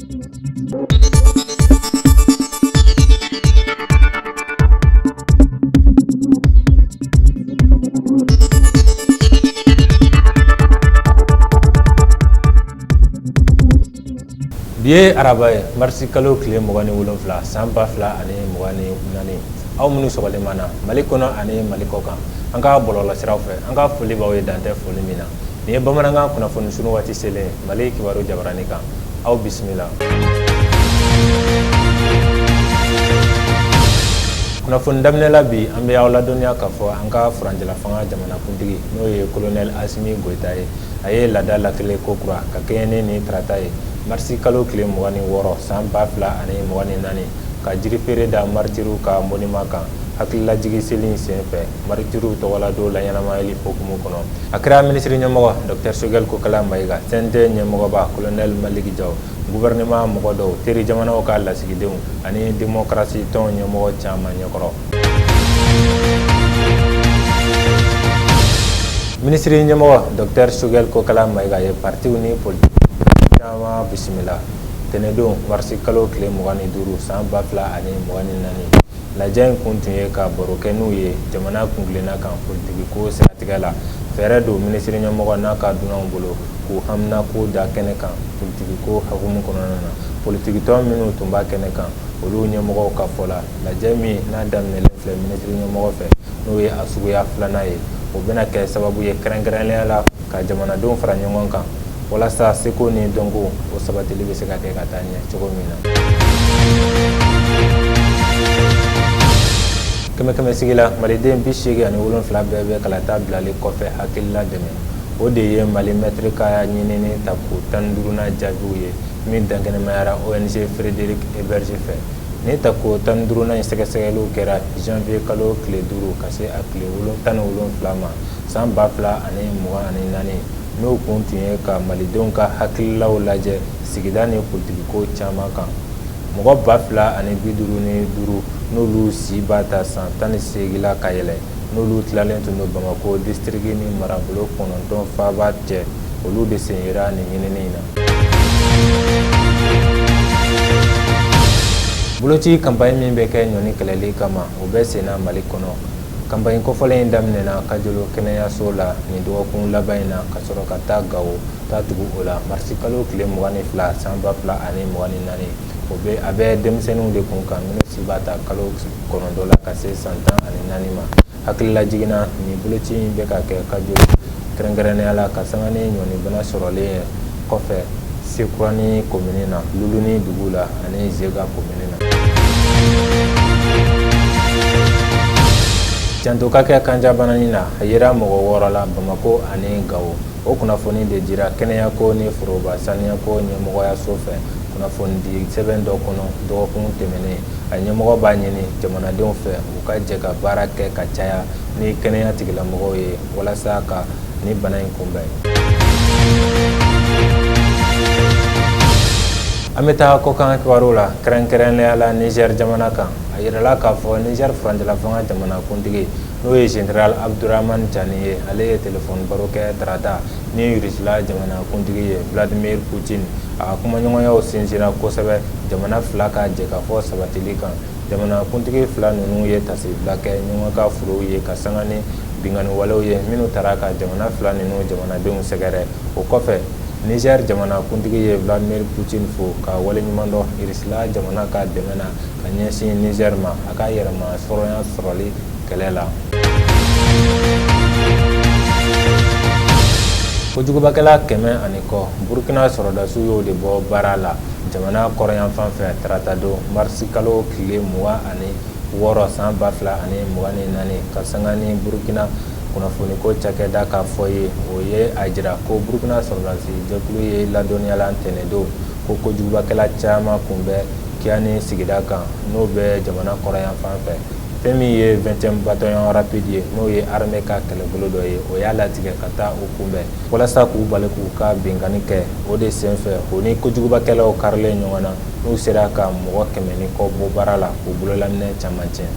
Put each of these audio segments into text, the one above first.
Bi ye araba ye marisi kalo tile mugan ni wolonfila san ba fila ani mugan ni naani aw minnu sɔgɔlen b'an na mali kɔnɔ ani mali kɔ kan an ka bɔlɔlɔsiraw fɛ an ka foli b'aw ye dan tɛ foli min na nin ye bamanankan kunnafoni sunu waati selen mali kibaru jabaranin kan aw bisimila kunnafoni daminɛ la bi an bɛ aw ladɔnniya k'a fɔ an ka furancɛlafanga jamanakuntigi n'o ye kolonɛli asimi goyita ye a ye laada latilen kokura ka kɛɲɛ ni nin tarata ye marisi kalo tile mugan ni wɔɔrɔ san ba fila ani mugan ni naani ka jirifeere da maritiriw ka monima kan hakililajigi seli in sen fɛ Maritiriw tɔgɔladon laɲɛnamayali hukumu kɔnɔ a kɛra minisiri ɲɛmɔgɔ dɔkitɛri sogɛli kokala mayiga cnt ɲɛmɔgɔba kolonɛli maliki jawu guwɛrinɛman mɔgɔ dɔw teri jamanaw ka lasigidenw ani demokarasi tɔn ɲɛmɔgɔ caman ɲɛkɔrɔ minisiri ɲɛmɔgɔ dɔkitɛri sogɛli kokala mayiga ye paritiw ni politiki caman bisimila ntɛnɛndon marisi kalo tile mugan ni duuru san ba fila ani mugan ni naani lajɛ in kun tun ye ka baro kɛ n'u ye jamana kuntilenna kan politikiko siratigɛ la fɛɛrɛ don minisiri ɲɛmɔgɔ n'a ka dunanw bolo k'u haminako da kɛnɛ kan politikiko hukumu kɔnɔna na politikitɔn minnu tun b'a kɛnɛ kan olu ɲɛmɔgɔw ka fɔ la lajɛ min n'a daminɛlen filɛ minisiri ɲɛmɔgɔ fɛ n'o ye a suguya filanan ye o bɛna kɛ sababu ye kɛrɛnkɛrɛnnenya la ka jamanadenw fara ɲɔgɔn kan walasa seko ni dɔnko o sabatili bɛ se ka kɛ ka taa ɲɛ cogo min na kɛmɛ kɛmɛ sigi la maliden bi seegin ani wolonfila bɛɛ bɛ kalata bilali kɔfɛ hakilila dɛmɛ o de ye mali mɛtiri ka ɲinini tako tan duuruna jaabiw ye min dankɛnɛmayara ong friedrich ebert fɛ nin tako tan duuruna in sɛgɛsɛgɛliw kɛra janvier kalo tile duuru ka se a tile tan ni wolonfila ma san ba fila ani mugan ni naani n'o kun tun ye ka malidenw ka hakililaw lajɛ sigida ni politikiko caman kan mɔgɔ ba fila ani bi duuru ni duuru n'olu si b'a ta san tan ni seegin na ka yɛlɛ n'olu tilalen tun don bamakɔ disitiriki ni marabolo kɔnɔntɔn faaba cɛ olu de sen yera nin ɲinini in na boloci kanpaɲi min bɛ kɛ ɲɔnin kɛlɛli kama o bɛ senna mali kɔnɔ kanpaɲi kɔfɔlen in daminɛna kajolo kɛnɛyaso la nin dɔgɔkun laban in na ka sɔrɔ ka taa gawo ta tugu o la marisi kalo tile mugan ni fila san ba fila ani mugan ni naani o a bɛ denmisɛnninw de kun kan minnu si b'a ta kalo kɔnɔntɔn la ka se san tan ani naani ma hakililajigin na nin boloci in bɛ ka kɛ kajolo kɛrɛnkɛrɛnnenya la ka sanga ni ɲɔnin bana sɔrɔlen ye kɔfɛ sekurani komini na luluni dugu la ani zega komini na janto ka kɛ kanjabana nin na a yera mɔgɔ wɔɔrɔ la bamakɔ ani gawo o kunnafoni de dira kɛnɛya ko ni foroba saniya ko ɲɛmɔgɔya so fɛ kunnafoni di sɛbɛn dɔ kɔnɔ dɔgɔkun tɛmɛnen a ɲɛmɔgɔ b'a ɲini jamanadenw fɛ u ka jɛ ka baara kɛ ka caya ni kɛnɛya tigilamɔgɔw ye walasa ka nin bana in kunbɛn an bɛ taa kɔkan kibaru la kɛrɛnkɛrɛnnenya la nizɛri jamana kan a yirala k'a fɔ nizɛri furancɛlafanga jamanakuntigi n'o ye general abdurahamani cani ye ale ye telefɔni baro kɛ tarata ni irisila jamanakuntigi ye vladimir putin a kumaɲɔgɔnyaw sinsinna kosɛbɛ jamana fila ka jɛkafɔ sabatili kan jamanakuntigi fila ninnu ye taasibila kɛ ɲɔgɔn ka furew ye ka sanga ni binkanniwalew ye minnu taara ka jamana fila ninnu jamanadenw sɛgɛrɛ o kɔfɛ nizɛri jamanakuntigi ye vladimir putin fo ka waleɲumandɔn irisila jamana ka dɛmɛ na ka ɲɛsin nizɛri ma a ka yɛrɛmahɔrɔnya sɔrɔli kɛlɛ la kojugubakɛla kɛmɛ ani kɔ burukina sɔrɔdasiw y'o de bɔ baara la jamana kɔrɔnyanfan fɛ tarata don marisi kalo tile mugan ani wɔɔrɔ san ba fila ani mugan ni naani ka sanga ni burukina kunnafoniko cakɛda ka fɔ ye o ye a jira ko burukina sɔrɔdasi jɛkulu ye ladɔnniyala tɛnɛndon ko kojugubakɛla caman kun bɛ kiani sigida kan n'o bɛ jamana kɔrɔnyanfan fɛ fɛn min ye 20e bataillon rapide ye n'o ye armée ka kɛlɛbolo dɔ ye o y'a latigɛ ka taa u kunbɛn walasa k'u bali k'u ka binkanni kɛ o de senfɛ u ni kojugubakɛlaw karilen ɲɔgɔn na n'u sera ka mɔgɔ kɛmɛ ni kɔ bɔ baara la k'u bololaminɛn caman tiɲɛ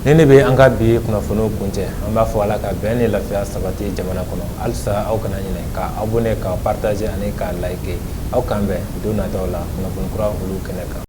nin de bɛ an ka bi kunnafoniw kuncɛ an b'a fɔ ala ka bɛn ni lafiya sabati jamana kɔnɔ halisa aw kana ɲinɛ ka abonner ka partager ani ka like aw k'an bɛn don nataw la kunnafoni kura olu kɛnɛ kan